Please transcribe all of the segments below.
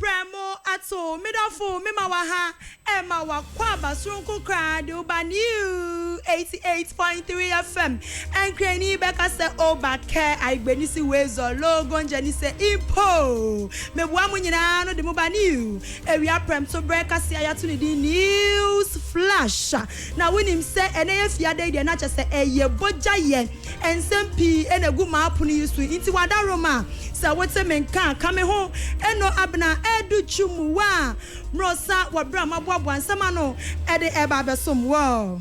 Prɛmo ato me dɔfo me ma waha ɛma wakɔ aba soronko koraa de wo ba new eighty eight point three FM ɛnkrani bɛka sɛ oba kɛ aigbenisi wezɔ logo ngyɛni sɛ impo me boa mo nyinaa no de mo ba new awia prɛmto berɛ kase a yato ne din news flash na wonim sɛ ɛnɛ yɛ fiada yi deɛ na kyɛ sɛ ɛyɛ bogya yɛ Nsɛm pii na egu m'apono yi so nti w'adarom a sɛ wote me nka a ka me ho Eno Abena Adu Chumuwa Mrosa wɔ bere a maboaboa nsɛm ano de reba abɛsom wɔ.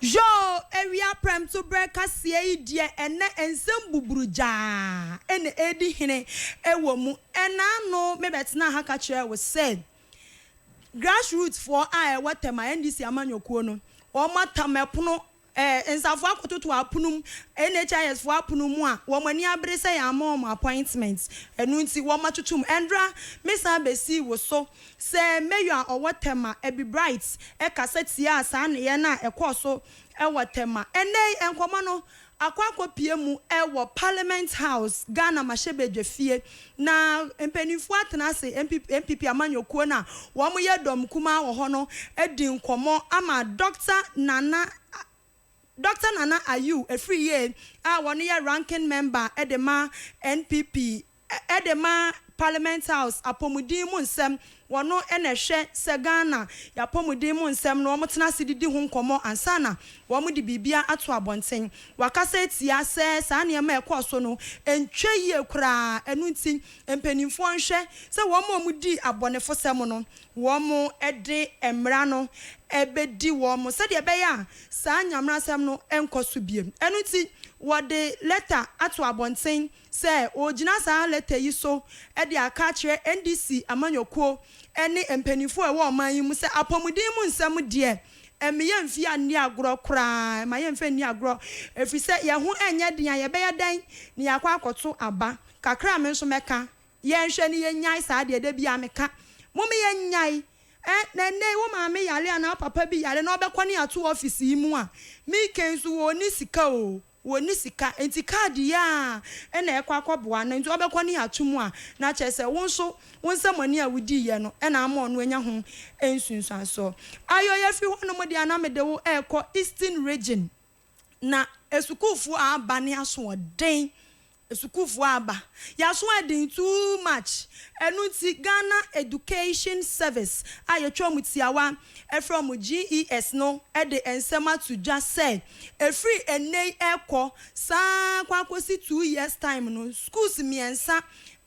Yoo awia prɛmto berɛ kaseɛ yi deɛ ɛnnɛ nsɛm buburugyaa na ɛredi hene wɔ mu. Ɛna ano mebɛtenaa ha ka kyerɛɛ wo sɛ grassroot foɔ a ɛwɔ Tema, NDC amanyɔkuo no, wɔatam ɛpono Eh, nsafoɔ akɔtoto apono mu, NHIS foɔ apono mu a, wɔn ani abere sɛ yɛamma wɔn appointment, ɛno nti wɔn atutu mu. Ɛndra, me san bɛsii wo so sɛ Mayor a ɔwɔ Tema, Abby Bright, kasa tiaa saa nneyɛɛ no a ɛkɔɔ so wɔ Tema. Ɛnnɛ yi, nkɔmmɔ no akɔ akɔpue mu wɔ Parliament House, Ghana mmarahyɛbadwafie, Na mpaninfoɔ atena ase, NPP amanyɔkuo no a wɔn yɛ dɔm kumaa wɔ hɔ no adi nkɔmɔ ama Dɔkta Nana Dɔkta Nana Ayew Afriyie a wɔn yɛ Ranking Member de ma NPP de ma Parliament House apɔmuden mu nsɛm Wɔno na ɛhwɛ sɛ Ghana y'apɔmuden mu nsɛm no wɔtena ase didi ho nkɔmmɔ ansa na wɔn de biribiara ato abɔnten. Wakasa atia sɛ saa nneɛma a ɛkɔɔ so no ntwa yie koraa, ɛno nti mpaninfoɔ nhwɛ sɛ wɔn a wɔn dii abɔnefosɛm no wɔn de mmara no bɛdi wɔn sɛdeɛ ɛbɛyɛ a saa nyamrasɛm no nkɔ so biem. Ɛno nti wɔde lɛta ato abɔnten sɛ ɔregyina saa lɛtɛ yi so de aka akyerɛ NDC amanyɔkuo ne mpaninfoɔ a ɛwɔ ɔman yi mu sɛ apɔmuden mu nsɛm deɛ ɛme yɛn mfi anni agorɔ koraa, ɛma yɛn mfa nni agorɔ ɛfiri sɛ yɛn ho nyɛ den a yɛbɛyɛ dɛn na yɛakɔ akɔto aba kakra a me nso mɛka yɛn nhwɛ ne yɛnnyae saa adeɛ da biara meka mome yɛnnyae ɛ na ɛnnɛ yi wo maame yare anaa wo papa bi yare na ɔbɛkɔ ne ato office yi mu a, Mike nso ɔnni sika oo. wɔnni sika nti kaadi yi ara na ɛkɔ akɔboa no nti ɔbɛkɔ ne ato mu a na kyerɛ sɛ wo nso wo nsɛmɔne a wodiiɛ no na ama ɔno anya ho nsunsuansoɔ. Ayo yɛfiri hɔnom deɛ a na mede wo rekɔ Eastern Region na asukuufoɔ a aba ne asoɔden Sukuufo aba yaso ayɛ den too much ɛno nti Ghana Education Service a yɛtwa wɔn tiawa ɛfrɛ wɔn GES no de nsɛm ato dwa sɛ ɛfiri ɛnnɛ yi ɛrekɔ saa kɔ akɔsi two years time no schools mmiɛnsa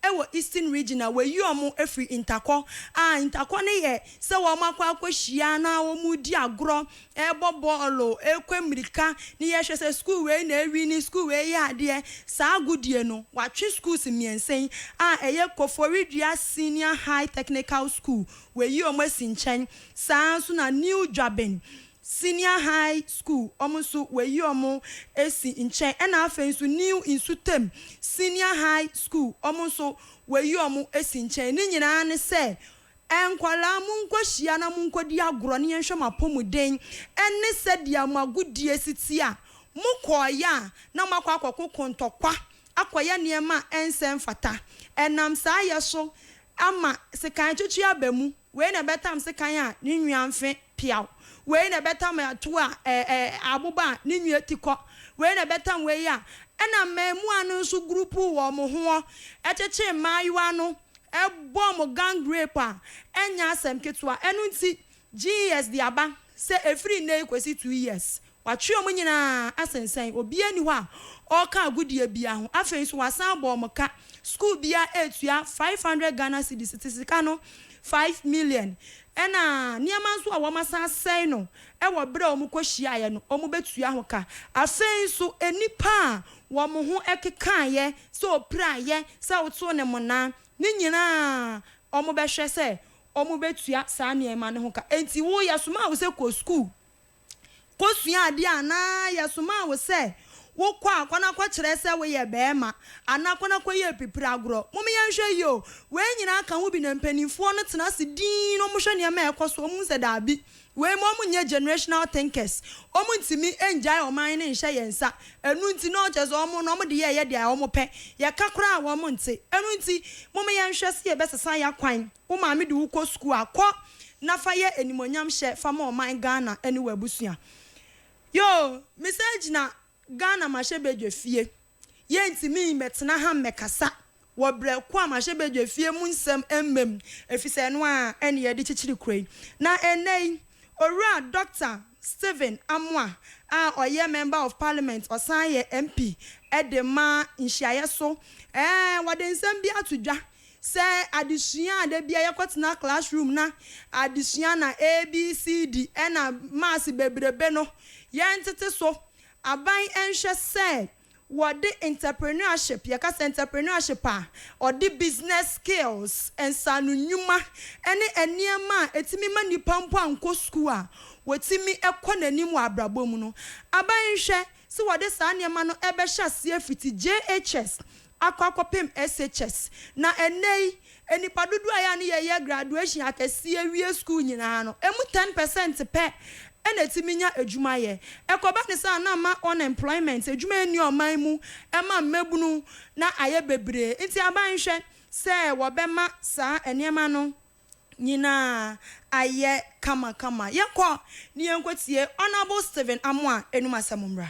ɛwɔ Eastern Region a wɔayi wɔn afiri Ntakɔ a Ntakɔ no yɛ sɛ wɔn akɔ akɔhyia na wɔredi agorɔ ɛrebɔ bɔɔlo, ɛrekɔ ammirika, ne yɛhwɛ sɛ sukuu wei na awi ne sukuu wei yɛ adeɛ, saa agodie no, wɔatwe schools mmiɛnsa yi a ɛyɛ Koforidua Senior High Technical School, wɔayi wɔn asi nkyɛn, saa ara nso na New Dwaben Senior High School, wɔn nso wɔayi wɔn asi nkyɛn, ɛnna afei nso New Nsutam Senior High School, wɔn nso wɔayi wɔn asi nkyɛn. Ne nyinaa ne sɛ Nkwadaa, monkɔhyia na monkɔdi agorɔ na yɛnhwɛ mo apɔmuden ne sɛdeɛ mo agodie si teɛ a mokɔeɛ a na moakɔ akɔko kontɔkwa akɔyɛ nneɛma a ɛnsɛ mfata. Ɛnam saa yɛ so ama sekan twetwe aba mu. Wei na ɛbɛtam sekan a ne nwea mfe peaw. Wei na ɛbɛtam ɛtoɔ a aboba a ne nwea ti kɔ. Wei na ɛbɛtam wei a ɛna mmɛɛmua no nso gurupu wɔn ho kyekye mmaayewa no Ɛbɔ mo gang rape a, ɛnyɛ asɛm ketewa. Ɛno nti, GES de aba sɛ ɛfiri nnɛ yi kɔsi two years, wɔatwe wɔn nyinaa asensɛn. Obiara nni hɔ a ɔreka agodie biara ho. Afei nso, wɔasan abɔ wɔn ka. Sukuu biara retua five hundred Ghana cedis, te sika no, five million. Ɛnna nneɛma nso a wɔasan asɛe no wɔ berɛ a wɔkɔhyiaeɛ no, wɔbɛtua ho ka. Afei nso, nnipa a wɔn ho kekaeɛ Sɛ ɔpira yɛ, sɛ woto no mmonnaa, ne nyinaa wɔbɛhwɛ sɛ wɔbɛtua saa nneɛma no ho ka. Enti wo, yɛsomaa wo sɛ kɔ sukuu kɔsua adeɛ anaa yɛsomaa wo sɛ wokɔ a, kɔ na kɔkyerɛ sɛ woyɛ barima anaa kɔ na kɔyɛ apipire agorɔ? Mom yɛnhwɛ yie o, wei nyinaa ka ho bi na mpanimfoɔ no tena ase dinn na wɔhwɛ nneɛma a ɛrekɔ so, wɔhu sɛ daabi, Wei ma wɔn nyɛ generational thinkers, wɔn ntumi ngyae ɔman no nhyɛ yɛn nsa, ɛno nti na ɔkyerɛ sɛ wɔn no wɔn de yɛ yɛ deɛ wɔn pɛ, yɛka koraa wɔn nte, ɛno nti moma yɛn nhwɛ sɛ yɛ bɛ sesa ya kwan, wo maame de wo kɔ sukuu a kɔ na fa yɛ animuonyam hyɛ fa ma ɔman Ghana ɛne w'abusua, yoo me san gyina Ghana mahyɛ bedwe fie. Yɛrentumi mmɛtena ha mmɛkasa wɔ berɛ ko a mahyɛ badwafie mu nsɛm mma mu, ɛfiri sɛ ɛno ara na yɛde kyekyere kuro yi. Na ɛnnɛ yi, Owura Dɔkta Stephen Amoah a ɔyɛ Member of Parliament, ɔsan yɛ MP de ma nhyiaeɛ so ɛɛ, wɔde nsɛm bi ato dwa sɛ adesua a da biara yɛkɔtena class room na adesua na ABCD ɛna maths bebrebe no, yɛntete so. Aban nhwɛ sɛ wɔde entrepreneurship, yɛka sɛ entrepreneurship a, wɔde business skills, nsaano nnwuma ne nneɛma a ɛtumi ma nnipa mpo ankɔ sukuu a wɔtumi kɔ n'anim wɔ abrabɔ mu no, aban nhwɛ sɛ wɔde saa nneɛma no bɛhyɛ aseɛ fiti JHS akɔ akɔpem SHS. Na ɛnnɛyi nnipa dodoɔ a ɛyɛ a ne yɛyɛ graduation akɛseɛ wie sukuu nyinaa no, ɛmu ten percent pɛ na ɛtumi nya adwuma yɛ. Ɛkɔba no saa a na ama unemployment, adwuma nni ɔman mu, ɛma mmabunu na ayɛ bebree. Nti aban nhwɛ sɛ wɔbɛma saa nneɛma no nyinaa ayɛ kama kama. Yɛnkɔ ne yɛnkɔtie Honourable Stephen Amoah anom asɛm mmra.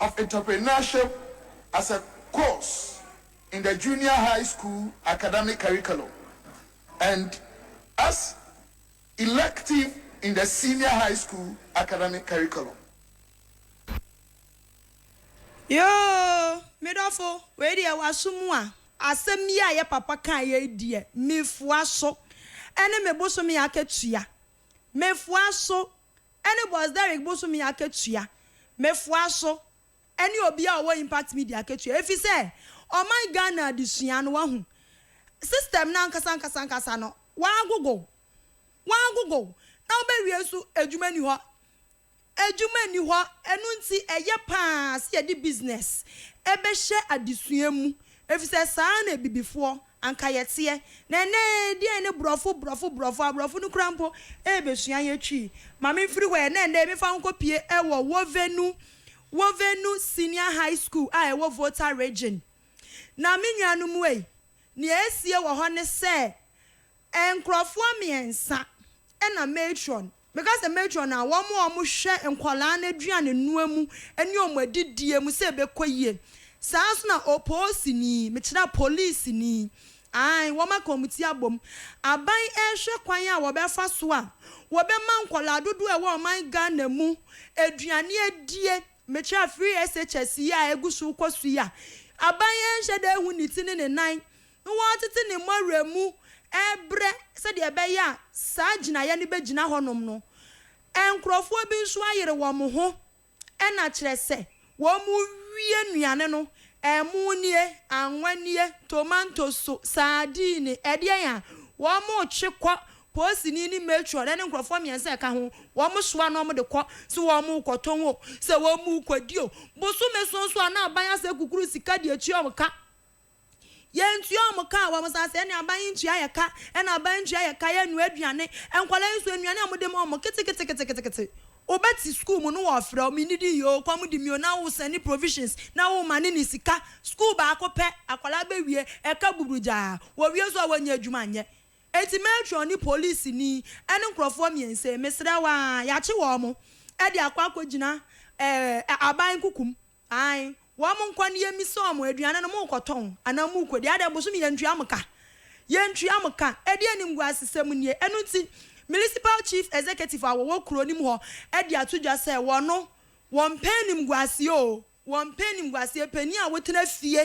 of Entrepreneurship as a course in the Junior High School Academic Curriculum and as elective in the Senior High School Academic Curriculum. Yoo me dɔfo wei deɛ waso mu a asɛm yi a yɛ papa kaa yɛ yi deɛ mefoa so ɛne me bosome akatua mefoa so Ɛne Boss Derrick bosome akatua, Mefoa so, ɛne obiara a ɔwɔ Impact Media akatua efisɛ ɔman Ghana adesua no wahu system no ankasa ankasa ankasa no wagogow, wagogow na wobɛwie nso adwuma nni hɔ, adwuma nni hɔ ɛno nti ɛyɛ paa sɛ yɛde business ɛbɛhyɛ adesua mu efisɛ saa na abibifoɔ. anka yɛteɛ, na ɛnnɛ deɛn ne brɔfo brɔfo brɔfo, abrɔfo no koraa mpo rebɛsua yɛn twi, ma memfiri hɔ ɛ, na ɛnnɛ mefa wo nkɔpue wɔ Wovenu, Wovenu Senior High School a ɛwɔ Volta Region. Na me nuanom ei, deɛ asie wɔ hɔ ne sɛ, nkorɔfoɔ mmiɛnsa na matron Mɛka sɛ matron a wɔn a wɔhwɛ nkwadaa no aduanenoa mu ne wɔn adidie mu sɛ ɛbɛkɔ yie. Saa ara nso na opoosini, mekyerɛ polisini, aane, wɔn aka wɔn ti abom. Aban rehwɛ kwan a wɔbɛfa so a wɔbɛma nkwadaa dodoɔ a ɛwɔ ɔman Ghana mu aduane adie, mekyerɛ free SHS yi a ɛgu so rekɔ so yi a aban nhyɛ da nhu ne ti ne ne nan na wɔatete ne mmɔwerɛ mu rebrɛ sɛdeɛ ɛbɛyɛ a saa gyinaeɛ no bɛgyina hɔnom no, nkurɔfoɔ bi nso ayere wɔn ho na kyerɛ sɛ wɔrewie nnuane no, ɛmo nie, anwa nie, tomantoso, saadiini, ɛdeɛn a, wɔretwe kɔ, poosini ne matron ne nkurɔfoɔ mmiɛnsa a ɛka ho, wɔsoa na wɔde kɔ, sɛ wɔrekɔtɔn o, sɛ wɔrekɔdi o, bosome so nso a na aban asɛ kukuru sika de atua wɔn ka. Yɛntua wɔn ka, wɔn asase ɛne aban yi ntua yɛ ka, ɛna aban ntua yɛ ka, yɛnnua aduane, nkwadaa yi nso nnuane a wɔde ma wɔn keteketeketekete, wobɛte sukuu mu no wɔrefrɛ wo, mennidi yi oo, kɔm de me oo, na wosɛne provisions na womane ne sika, sukuu baako pɛ, akwadaa bɛwie, ɛka buburugyaa, wɔwie nso a wɔnnya adwuma nyɛ. Enti matron ne polisini ɛne nkorɔfoɔ mmiɛnsa yi, mesrɛ wo aa, yɛakye wɔn de akɔ akɔgyina ɛɛ aban nkukum Ae, wɔn nkwa nie misa wɔn aduane no, morekɔtɔn anaa morekɔdi? Adɛn, bosome yɛntua mo ka? Yɛntua mo ka? Ɛdeɛn animguasesɛm nie? Ɛno nti, Municipal Chief Executive a wɔwɔ kuro no mu hɔ de ato dwa sɛ wɔno, wɔmpɛ animguaseɛ oo, wɔmpɛ animguaseɛ, panin a wotena fie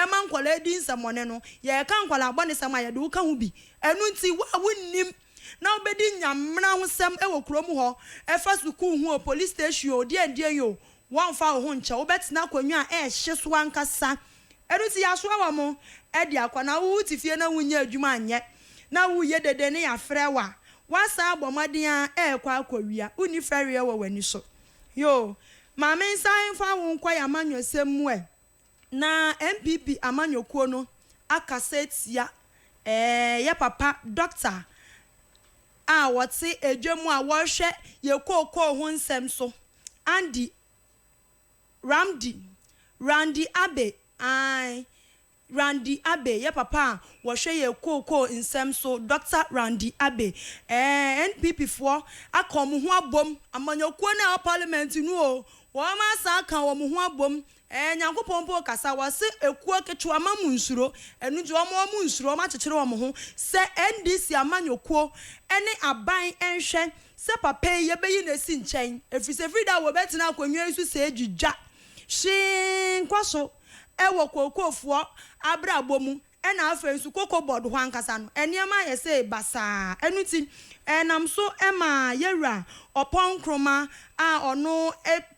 ma nkwadaa di nsɛmmɔne no, yɛreka nkwadaa abɔnesɛm a yɛde wo ka ho bi, ɛno nti wo a wonnim, na wobedi Nya mmara ho sɛm wɔ kurom hɔ, ɛfa sukuu ho o, polis station o, deɛn deɛn o, wɔnfa wo ho nkyɛ, wobɛtena akonnwa a ɛhye so ankasa, ɛno nti yɛasoa wɔn de akɔ, na wo wote fie na wonnya adwuma anyɛ, na woreyɛ dede ne yɛafrɛ wo a, woasan abɔ mmɔden a ɛrekɔ akɔwia, wonni fɛreɛ wɔ w'ani so, yoo, maame nsan mfa wo nkɔ yɛn amanyɔsɛm mu ɛ. Na NPP amanyɔkuo no akasa atia ɛɛ yɛ papa Dɔkta a ɔte Edwa mu a ɔrehwɛ yɛ kookoo ho nsɛm so, Andy Ramdi, Randy Abe, ae, Randy Abe, yɛ papa a ɔhwɛ yɛ kookoo nsɛm so, Dɔkta Randy Abe. Ɛɛ NPP foɔ aka wɔn ho abom, amanyɔkuo no a ɛwɔ Parliament no o, wɔn asan aka wɔn ho abom Ɛɛ Nyankopɔn mpo kasa wɔse ekuo ketewa ma mo nsuro ɛno nti wɔn wɔn nsuro wɔn akyekyere wɔn ho sɛ NDC amanyɔkuo ɛne aban ɛnhwɛ sɛ papa yi yɛbɛyi no asi nkyɛn ɛfiri sɛ ɛfiri da a wɔbɛtena akonnwa yi so sɛɛ dwidwa hwee nkɔ so ɛwɔ Kookoofoɔ abrabɔ mu Ɛna afei nso koko board hɔ ankasa no nneɛma ayɛ sɛ eba saa. Ɛno nti ɛnam so ma yɛwura ɔpɔn Nkrumah a ɔno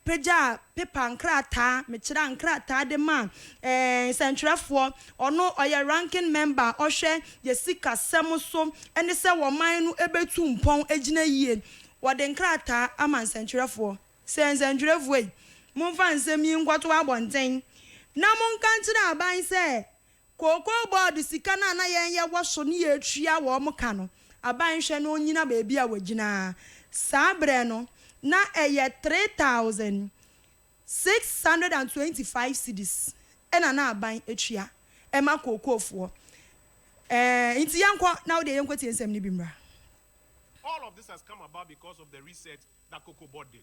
pagyaa paper nkrataa, mekyerɛ a nkrataa de maa nsɛntwerɛfoɔ. Ɔno ɔyɛ ranking member a ɔhwɛ yɛ sikasɛm so ne sɛ ɔman no bɛtu mpɔn agyina yie. Wɔde nkrataa ama nsɛntwerɛfoɔ sɛ nsɛntwerɛfoɔ yi momfa nsɛm yi nkɔto abɔnten na monka nkyerɛ aban sɛ Kookoo bɔɔd sika no a na yɛn yɛ wɔ so ne yɛtua wɔn ka no, aban hwɛ na ɔnnyina baabi a wɔgyina ara. Saa berɛ no, na ɛyɛ three thousand, six hundred and twenty five cedis na na aban tua ma kookoofoɔ. Ɛɛ, nti yɛnkɔ na wo deɛ yɛnkɔtie nsɛm no bi mmra. All of this has come about because of the research that Cocoa Board did.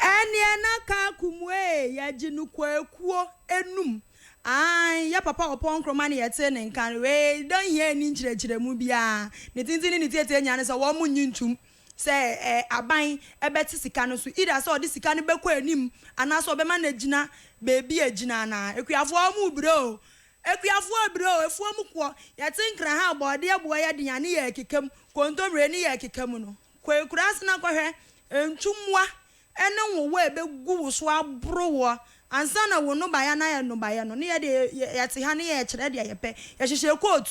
Ɛnneɛ na Kaaku Muee yɛgye no kwakuo anum. Aane, yɛ papa Ɔpɔn Nkrumah na yɛtee ne nka no. Wei da nhia nni nkyerɛkyerɛmu biara. Ne tenten ne ne tietie nyinaa ne sɛ wɔn nnye ntum sɛ aban bɛte sika no so. Either sɛ ɔde sika no bɛkɔ anim anaasɛ ɔbɛma no agyina baabi a ɛgyina anaa. Akuafoɔ mo brɛ o. Akuafoɔ brɛ o. Afuom koɔ. Yɛte nkra ha a bɔɔdeɛ boɔ yɛ den a ne yɛrekeka mu. Kontomire ne yɛrekeka mu no. Kɔ akuraase na kɔhwɛ ntwummoa ne nwowa a ɛbɛgu wo so aboro woɔ ansa na wo nnɔbaeɛ no ayɛ nnɔbaeɛ no. Ne yɛ deɛ, yɛte ha ne yɛkyerɛ deɛ yɛpɛ. Yɛhyehyɛ coat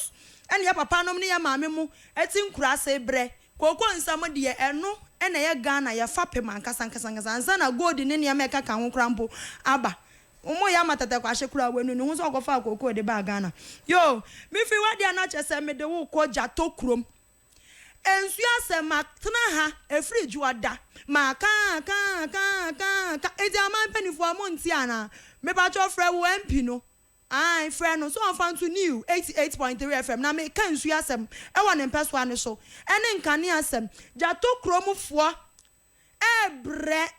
ne yɛ papanom ne yɛ maame mo te nkuraase brɛ. Kooko nsa mo deɛ, ɛno na ɛyɛ Ghana yɛ fapem ankasa ankasa ankasa ansa na gold ne nneɛma a ɛkeka ho koraa mpo aba. Wɔyɛ ama Tɛtɛkwashe koraa wanu ne ho sɛ ɔkɔfaa kookoo de baa Ghana. Yoo, me firi w'adeɛ a na kyerɛ sɛ mede wo kɔ Gyato kurom. Ɛnsua asɛm ma tena ha ɛfiri dwoada ma kaa kaa kaa kaa ka nti aman panifoɔ a mo nte anaa mepakyɛw frɛ wo MP no ae frɛ no sɛ ɔmfa nto new eighty eight point three FM na meka nsuo asɛm ɛwɔ ne mpɛsoa no so ɛne nkanea asɛm gya tokuro mu foɔ ɛɛbrɛ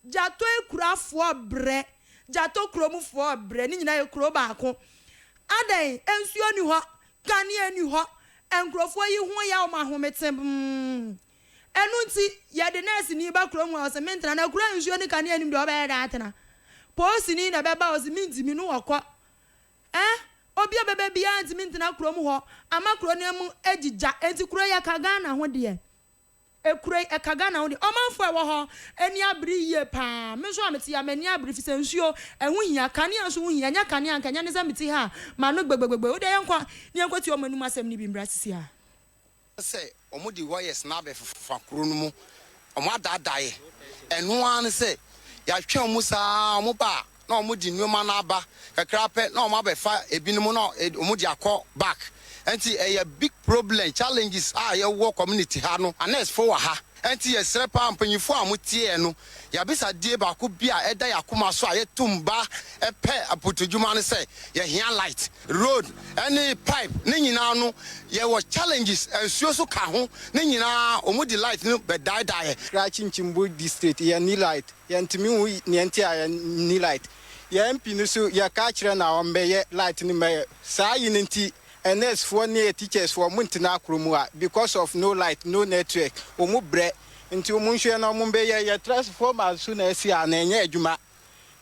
Gyatɔakurafoɔ brɛ, Gyatɔ kuromfoɔ brɛ, ne nyinaa yɛ kuro baako. Adɛn? Nsuo nni hɔ, kanea nni hɔ, nkurɔfoɔ yi ho yɛ wɔn ahometemm. Ɛno nti, yɛde nɛɛseni ba kurom a, ɔse mentra, na kuro a nsuo ne kanea nnim deɛ ɔbɛyɛ dɛn atena? Poosini na ɛbɛba a, ɔse mentumi, ne ɔkɔ. Eh, obi a ɔbɛba biara ntumi ntena kurom hɔ, ama kuro no mu agyigya. Enti kuro yɛka Ghana ho deɛ. Ekuro yi ɛka Ghana ho deɛ. Ɔmanfoɔ a ɛwɔ hɔ ani abere yie paa. Me nso a mete ha m'ani abere efisɛ nsuo ɛho hia. Kanea nso ho hia. Ɛnyɛ kanea anka ɛnyɛ ne sɛ mete ha a m'ano gbegbegbegbe. Wo deɛ yɛnkɔ na yɛnkɔtie wɔn anom asɛm no bi mmra sisi a. sɛ wɔde wires no abɛfefa kuro no mu, wɔadaadaeɛ. Ɛno ara ne sɛ, yɛatwɛn wɔn saa ara, wɔba a, na wɔn de nnoɔma no aba kakra pɛ na wɔn abɛfa ebinom na wɔn de akɔ back ɛnti ɛyɛ big problem challenges a yɛwɔ community ha no anurse fo wɔ ha ɛnti yɛsrɛ paa mpanyinfoɔ a wɔn teɛ no yabisadie baako bi a ɛda yakoma so a yɛtum ba pɛ apotudwuma no sɛ yɛhia light road ɛne pipe ne nyinaa no yɛwɔ challenges nsuo so ka ho ne nyinaa wɔn de light no bɛdaedaeɛ. Krakye Nkyimbu district yɛnni light Yɛntumi nhu nea nti a yenni light. Yɛn MP no so, yɛkaa kyerɛɛ no a ɔmmɛyɛ light no mmɛyɛ. Saa ayi no nti, nurse foɔ ne teachers foɔ wɔntena akro mu ha because of no light, no network. Wɔn brɛ nti wɔn nhwɛ na wɔn bɛyɛ. Yɛ transformer nso na asi a na ɛnyɛ adwuma.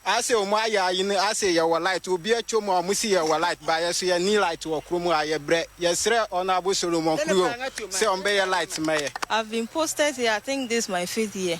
Ase wɔn ayɛ ayi no ase yɛwɔ light. Obi atwa mu a wɔn se yɛwɔ light but yɛn nso yɛnni light wɔ kro mu ha. Yɛ brɛ. Yɛ srɛ Honourable Solomon Krio sɛ ɔmbɛyɛ light mmɛyɛ. I've been posted here I think this my fifth year.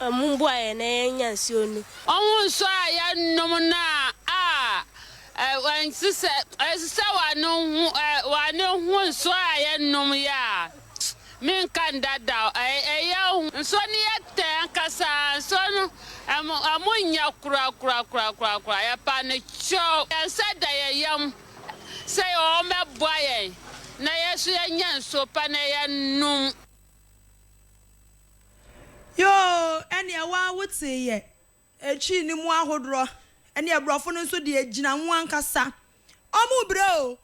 mbuaɛ na yɛnnya nsuo no. Ɔho nsuo a yɛnom no a ɛnsesɛ, ɛsesɛ w'ano ho, w'ano ho nsuo a yɛnom yɛ a, menka nda da o, ɛyɛ hu. Nsuo no yɛ tɛ ankasa, nsuo no ɛmo, ɛmo nyɛ kora kora kora kora kora, yɛpa no kyɛw. Yɛn nsa da yɛn yam sɛ wɔn bɛboa yɛn na yɛn nso yɛnya nsuo pa na yɛnom. Yoo ɛneɛ waa wo tee yɛ. Ɛtwi ne mu ahodorɔ ɛneɛ brɔfo no nso deɛ gyina ho ankasa ɔmo brɛ o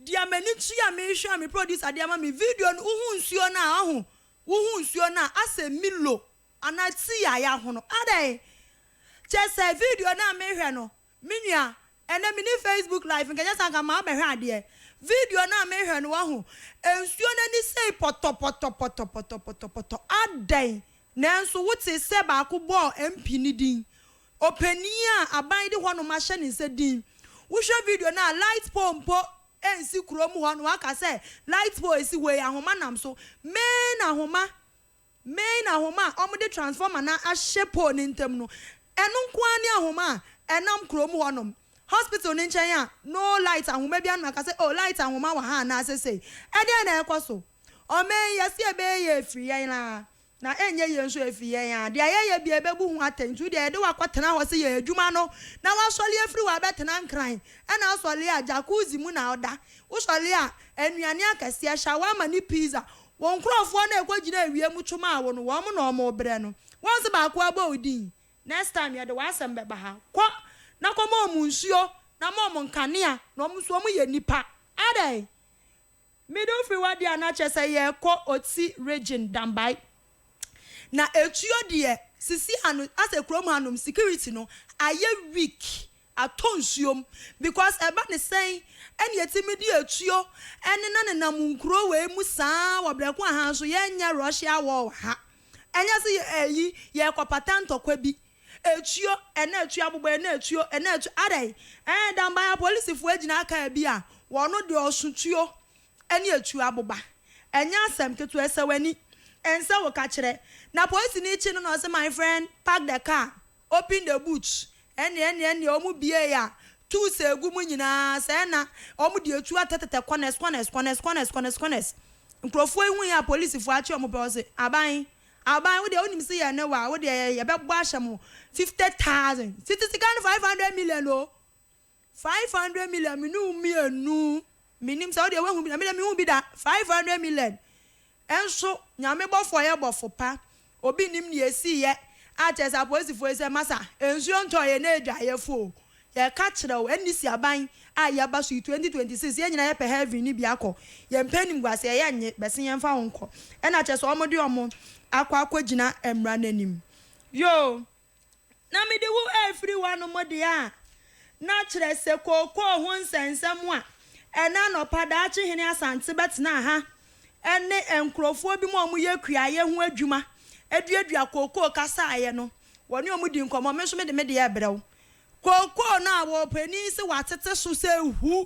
deɛ m'ani kye a mehwɛ a me producer de ama me video no wohu nsuo no a wahu wohu nsuo no a asɛ milo anaa tea a yahono adɛn kyɛsɛ video no a mehwɛ no Me nua, ɛnɛ menni Facebook live, nka ɛnyɛ saa nka mabɛhwɛ adeɛ. Video no a mehwɛ no wahu, nsuo no ani sei pɔtɔpɔtɔpɔtɔpɔtɔpɔtɔpɔtɔ adɛn? Nanso wotee sɛ baako bɔɔ MP no din, ɔpanin a aban de hɔnom ahyɛ ne nsa din. Wohwɛ video no a, light pole mpo nsi kurom hɔ na waka sɛ light pole si hɔ yi, ahoma nam so. Main ahoma. Main ahoma a wɔde transformer no ahyɛ pole no ntam no, ɛno nko ara ne ahoma a ɛnam kurom hɔnom, hospital no nkyɛn a no light ahoma biara no ma ɛka sɛ, oh, light ahoma wɔ ha anaa sesei. Ɛdɛn na ɛrekɔ so? Ɔman yi, yɛse ɛbɛyɛ yɛn afiri yɛn ara, na ɛnyɛ yɛn nso afiri yɛn ara. Deɛ yɛyɛ biara yɛbɛbu ho atɛn, nti wodeɛ yɛde wo akɔtena hɔ se yɛ adwuma no, na woasɔle afiri hɔ abɛtena Nkran, ɛna wosɔle a jacuzzi mu na woda, wosɔle a nnuane akɛseɛ, shawarma ne pizza, Wo nkurɔfoɔ no a ɛkɔgyina awia mu to maa wo no, wɔn na wɔrebrɛ no. Wonse baako ara bɔ wo din? Next time yɛde w'asɛm bɛba ha. Kɔ, na kɔma wɔn nsuo, na ma wɔn nkanea, na wɔn nso wɔyɛ nnipa. Adɛn? Mede wo firi hɔ deɛ a, na kyerɛ sɛ yɛrekɔ Otsi region, Dambai. Na etuo deɛ, sisi ano, asɛ kurom hanom, security no, ayɛ weak. atɔ nsuo mu because ɛba ne sɛn ɛna yɛtumi de atuo ɛnena nenam nkuro wei mu saa wɔ brɛ ko ahaa nso yɛnyɛ Russia war wɔ ha ɛnyɛ se yɛ ɛyi yɛkɔ pata ntɔkwa bi atuo ɛna atuo abobɔ ɛna atuo ɛna atuo adɛn ɛɛ danban apolisifoɔ agyina aka ɛbi a wɔno deɛ ɔso tuo ɛne atuo aboba ɛnyɛ asɛm ketewa ɛsɛ wani ɛnsɛ wo kakyerɛ na polisini kye no na ɔse my friend park the car Open the boot, ɛne, ɛne, ɛne, wɔn biee a, tuu sɛ gu mu nyinaa, sɛ ɛna, wɔn de etuo atɛtɛtɛ corners, corners, corners, corners, corners, corners. Nkurɔfoɔ yi hui a, polisifo akye wɔn pɛ, wɔse, Aban, Aban, wo deɛ wonim se yɛn ne wo a, wo deɛ yɛbɛbɔ ahyɛ mo fifty thousand, sete sika no five hundred million o! Five hundred million me ne wo mmienu. Menim sɛ wo deɛ woahu bi da. Me deɛ menhuu bi da. Five hundred million nso Nyame bɔfo ɔyɛ bɔfo pa. Obi nnim nea esiiɛ a kyerɛ sɛ apolisifoɔ yi sɛ masa nsuo ntɔ yɛn adwaeɛfoɔ o. Yɛka kyerɛ wo ɛne si aban a yɛba so yi twenty twenty six yɛn nyinaa yɛpɛ heaven no bi akɔ. Yɛmpɛ animguaseɛ yɛnnye bɛse yɛmfa wo nkɔ. Ɛna kyerɛ sɛ wɔde wɔn akɔ akɔgyina mmara no anim. Yoo. Na mede wo afiri w'anom de a, na kyerɛ sɛ kookoo ho nsɛnsɛm a ɛnnɛ anɔpa daakye hene Asante bɛtenaa ha ne nkurɔfoɔ binom a wɔyɛ kuayɛ ho adwuma duadua kookoo kasaeɛ no, wɔne wɔn dii nkɔmmɔ. Me nso mede me deɛ rebrɛ wo. Kookoo no a wɔpanin se wɔatete so sɛ ahu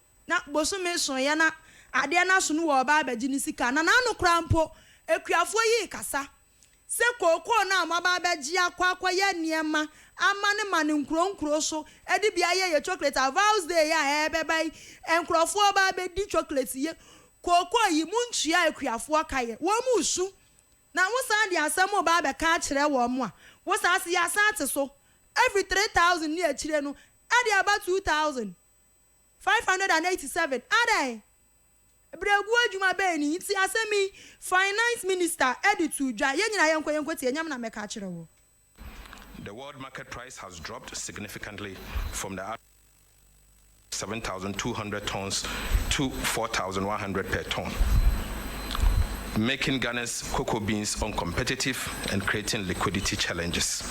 Na bosome soeɛ na adeɛ no aso no wɔ ɔbaa abɛgye ne sika na n'ano koraa mpo akuafoɔ yi rekasa sɛ kookoo no a wɔaba abɛgye akɔ akɔyɛ nneɛma ama no ma no nkuro nkuro so de bi ayɛ yɛ chocolate a Val's Day a ɛrebɛba yi nkurɔfoɔ reba abɛdi chocolate yi kookoo yi montua akuafoɔ ka yɛ wɔn resu na wosan de asɛm reba abɛka akyerɛ wɔn a wosan se yɛasan ate so ɛfiri 3000 ne akyire no ɛde aba 2000. Five hundred and eighty seven Adɛn? Berɛguo adwuma bɛn ni nti asɛm yi Finance Minister de too dwa? Yɛn nyinaa yɛnkɔ yɛnkɔ tie nyam na mɛka akyerɛ wo. The world market price has dropped significantly from the average of seven thousand two hundred tonnes to four thousand one hundred per tonne, making Ghana's cocoa beans uncompetitive and creating liquidity challenges.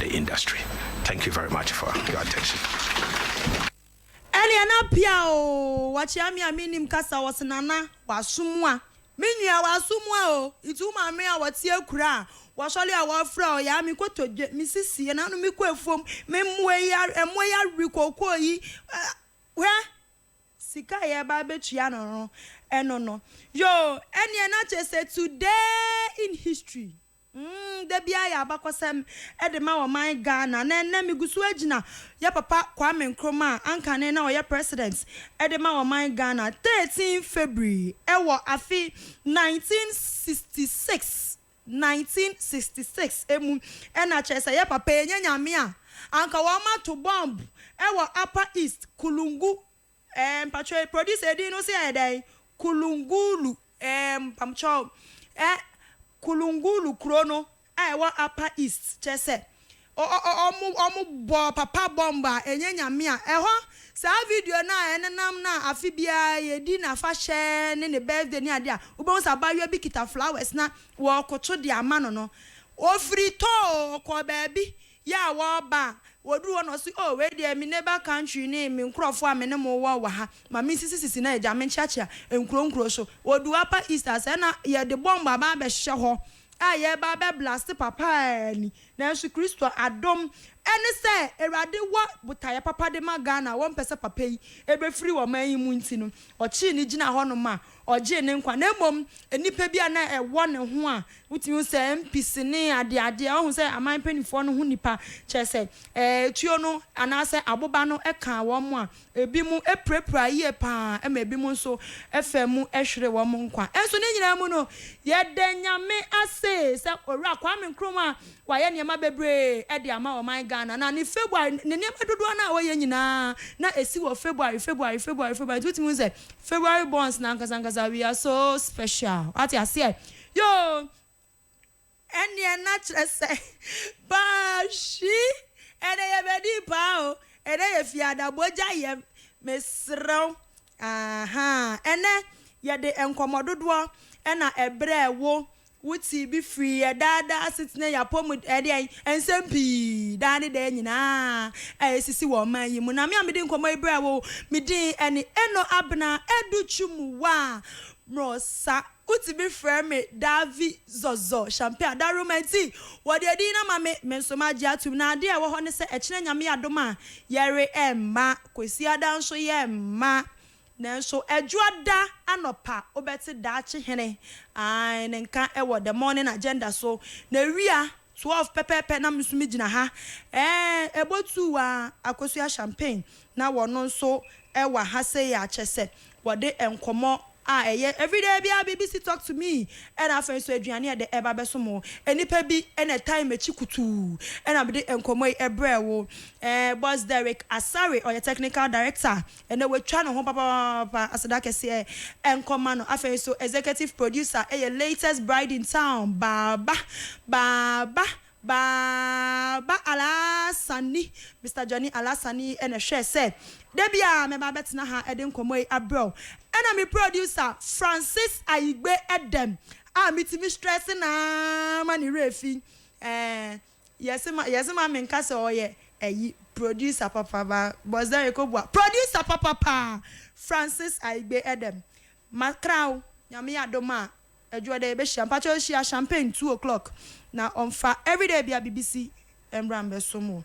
the industry thank you very much for your attention. Ɛneɛ na pia oo wakyea me a mennim kasa ɔse nana wasomua me nua wasomua oo nti wo maame a ɔte akura a wasɔre a wɔfrɛ ɔyɛ a me kotodwe me sisie na no me kɔ afuom me mmoa yi ɛmoa yi awe kookoo yi hwɛ sika yɛ ba bɛtua no no ɛno no yoo ɛneɛ na kyɛ sɛ today in history Mm da biara yɛ abakɔsɛm de ma ɔman Ghana na ɛnnɛ me gu so agyina yɛ papa Kwame Nkrumah a anka ne na ɔyɛ President de ma ɔman Ghana 13 February wɔ afe 1966 1966 mu ɛna kyerɛ sɛ yɛ papa ɛnyɛ Nyame a anka wɔn ato bomb wɔ Upper East, Kulungu. Ɛɛ mpakyɛw yi producer din no se ayɛ dɛn Kulungulu ɛɛ mpakyɛw ɛ Kulungulu kuro no a ɛwɔ upper east kyerɛ sɛ ɔ ɔ ɔ ɔmo ɔmo bɔ papa bomb a ɛnyɛ nyame a ɛhɔ saa video no a ɛnenam no a afe biara yɛdi nafahyɛ ne ne birthday ne adeɛ a wobɛhu sɛ abaayewa bi kita flowers na wɔɔkoto de ama no no ɔfiri tɔɔ ɔkɔɔ baabi yɛ a wɔba a, wɔduru hɔ na wɔse, Oh, wei deɛ me neighbor country ne me nkurɔfoɔ a me ne mo wɔ wɔ ha, ma mensisi sisi na agya menkyeakyea nkuro nkuro so. Wɔdu Upper East a, sɛɛ na yɛde bɔmb aba abɛhyɛ hɔ a yɛreba abɛ blaste papa ara ni. Nanso Kristo adom ne sɛ Awurade wɔ botaeɛ papa de ma Ghana a wɔmpɛ sɛ papa yi bɛfiri ɔman yi mu nti no, ɔkyee no gyinaa hɔnom a Ɔgyee ne nkwa, na mmom nnipa bi a na ɛwɔ ne ho a wotumi hu sɛ MPs ne adeadeɛ, woahu sɛ aman mpanimfoɔ no ho nnipa, kyerɛ sɛ, tuo no anaasɛ aboba no kaa wɔn a ebinom pirapiraa yie pa ara, ɛma ebinom nso faa mu hweree wɔn nkwa. Nanso ne nyinaa mu no, yɛda Nyame ase sɛ Owura Kwame Nkrumah Wayɛ nneɛma bebree de ama ɔman Ghana. Na ne February, ne nneɛma dodoɔ no a ɔyɛ nyinaa, na ɛsi wɔ February, February, February, February. Nti wotumi hu sɛ February borns no ankasa ankasa, we are so special. Wate aseɛ? Yoo! Ɛnneɛ na kyerɛ sɛ, baahwi! Ɛnnɛ yɛbɛdii paa o! Ɛnnɛ yɛ Fiada bogya yɛm, mesrɛ wo. Ahaa! Ɛnnɛ yɛde nkɔmmɔ dodoɔ na ɛbrɛɛ wo Wote bi firi yɛn daa daa asetena yi apɔmuden, ɛɛ deɛn, nsɛm pii daa ne daa nyinaa a ɛresisi wɔ ɔman yi mu. Na me a mede nkɔmmɔ yi brɛ wo, me din ɛne Eno Abena Adu Twumwa Morosa. Wote bi frɛ me Davi Zɔzɔ Shampe Adaroma nti, wɔde edin no ama me, me nso magye atom. Na adeɛ a ɛwɔ hɔ ne sɛ, ɛkyena Nyame adom a, yɛre mma, Kwasiada nso yɛmma. Nanso Ɛdwoada anɔpa wobɛte daakye hene ae ne nka wɔ The Morning Agenda so. Na wia 12 pɛpɛɛpɛ na me nso me gyina ha ɛɛ ɛbɔ tuu aa akosua champagne na wɔno nso ɛwa ha sei a kyɛsɛ wɔde nkɔmɔ a ɛyɛ everyday biaa BBC talk to me ɛna afei nso aduane a ɛdɛ ɛba bɛso mo. Nnipa bi na ɛtan makyi kutuu ɛna mede nkɔmɔ yi ɛbrɛɛ wo ɛɛ Boss Derrick Asare ɔyɛ Technical Director. Ɛnna watwa ne ho papaapa. Aseda kɛseɛ nkɔ mma no. Afei nso, executive producer yɛ latest bride in town, Baaba, Baaba, Baaba Alaasani. Mister Johnny Alaasani na ɛhwɛɛ sɛ da bi a mɛba abɛtena ha de nkɔmmɔ yi abrɛ wo. Ɛnna me producer, Francis Ayigbe Edem, a mitumi strɛse no ara ma ne werɛ fi. Ɛɛ. Yɛse ma yɛse ma menka sɛ ɔyɛ ayi producer papa ba bɔsdare kɔbua producer papa paa Francis Aigbe Edem makra wo nyame yɛ adom a adwoɔ dɛ yɛbɛhyia mpakyɛw hyia champagne two o'clock na ɔmfa everyday bia biribi si mbra mbɛsom wo.